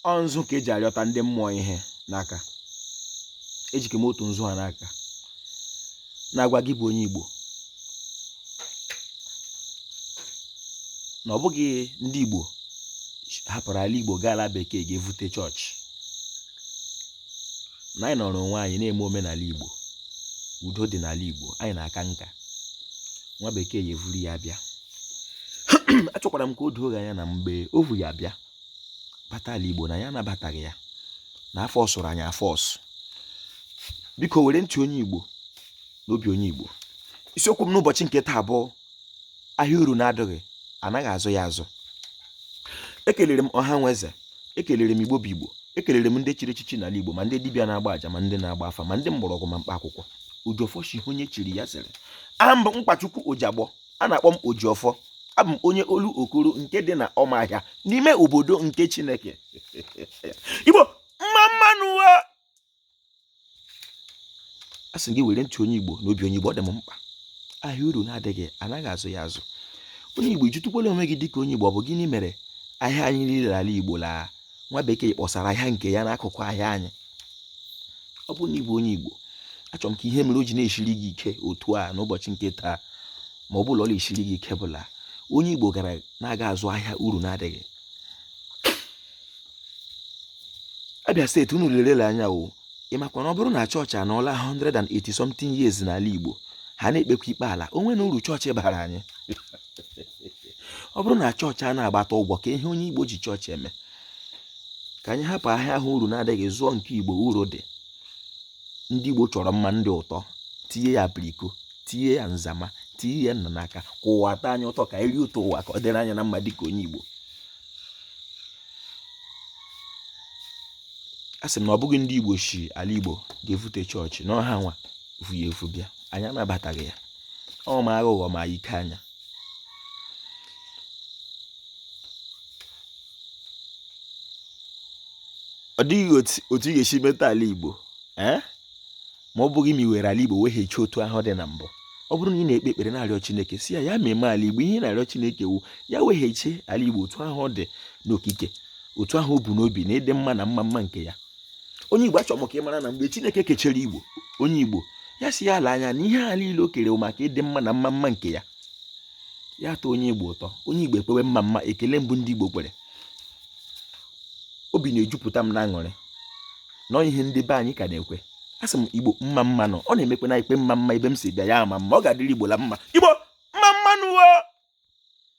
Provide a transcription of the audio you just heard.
ọ nzu ka eji arịọta ndị mmụọ ihe n'aka ejike m otu nzu ha n'aka na-agwa gị bụ onye Igbo na ọ bụghị ndị Igbo hapụrụ ala Igbo gaa ala bekee gaa vute chọọchị na anyị nọrọ onwe anyị na-eme omenala Igbo udo dị n'ala Igbo anyị na-aka nka nwa bekee ya evuru ya bịa achọkwara m ka o doo ọha anya na mgbe o vu ya bịa bata ala igbo na anyị anabataghị ya na a fọọsụrụ anyị afọọsụ biko were ntị onye igbo n'obi onye igbo isiokwu m n'ụbọchị nke taa bụ ahịa uru na-adịghị anaghị azụ ya azụ ekelere m ọha na eze ekelere m igbo bụ igbo ekelere m ndị chiri echichi n'ala igbo ma ndị dibịa na-agba aja ma ndị na-agba afa ma ndị mgbọrọgwụ ma mkpa akwụkwọ ojiọfọ shi onye chiri ya zere aha m bụ mkpachukwu ojiagbọ a na-akpọ m Ojiọfọ abụ m onye Olokoro nke dị na Ụmụahịa n'ime obodo nke Chineke Igbo mma mma nụ a sị gị were ntị onye Igbo n'obi onye Igbo ọ dị m mkpa ahịa uru na-adịghị anaghị azụ ya azụ onye Igbo ị jụtụkwala onwe gị dịka onye Igbo ọ bụ gịnị mere ahịa anyị niile ala Igbo laa nwa bekee kpọsara ahịa nke ya n'akụkụ ahịa anyị ọ bụrụ na ị bụ onye igbo achọrọ m ka ihe mere o ji na-eshiri gị ike otu a n'ụbọchị nke taa ma ọ bụ la ọ na-eshiri gị ike bụ la onye igbo gara na-aga azụ ahịa uru na-adịghị Abia steeti unu lerela anya o ị makwa na ọ bụrụ na chọọchị anọọla 180 something years n'ala igbo ha na-ekpekwa ikpe ala o nwenụ uru chọọchị bara anyị ọ bụrụ na chọọchị a na-agbata ụgwọ ka ihe onye igbo ji chọọchị eme ka anyị hapụ ahịa ahụ uru na-adịghị zụọ nke igbo uru dị ndị igbo chọrọ mma ndị ụtọ tinye ya apiriko tinye ya nzama tinye ya nna n'aka ka ụwa tọọ anyị ụtọ ka anyị rie ụtọ ụwa ka ọ dịrị anyị na mma dịka onye igbo a sị m na ọ bụghị ndị igbo si ala igbo gaa vute chọọchị na ọ hanwa vu ya evu bịa anyị anabataghị ya ọ ma aghụghọ ma ike anya ọ dịghị otu ị ga-esi meta ala Igbo ee eh? ma ọ bụghị ma i were ala Igbo weghachi otu ahụ ọ dị na mbụ ọ bụrụ na ị na-ekpe ekpere na-arịọ Chineke sị ya ya meme ala Igbo ihe ị na-arịọ Chineke wụ ya weghachi ala Igbo otu ahụ ọ dị n'okike otu ahụ o bu n'obi na ịdị mma na ịma mma nke ya onye igbo achọrọ m ka ị mara na mgbe chineke kechere igbo onye igbo ya sị ya lee anya na ihe a niile o kere maka ịdị mma na ịma mma nke ya ya tọọ onye igbo ụtọ onye igbo ekpewe mma mma ekele mbụ ndị igbo kwere obi na-ejupụta m na aṅụrị na ihe ndị be anyị ka na-ekwe a sị m igbo mma mma nụ ọ na-emekwa na ikpe mma mma ebe m si bịa ya ama mma ọ ga-adịrị igbo la mma igbo mma mma nụ wo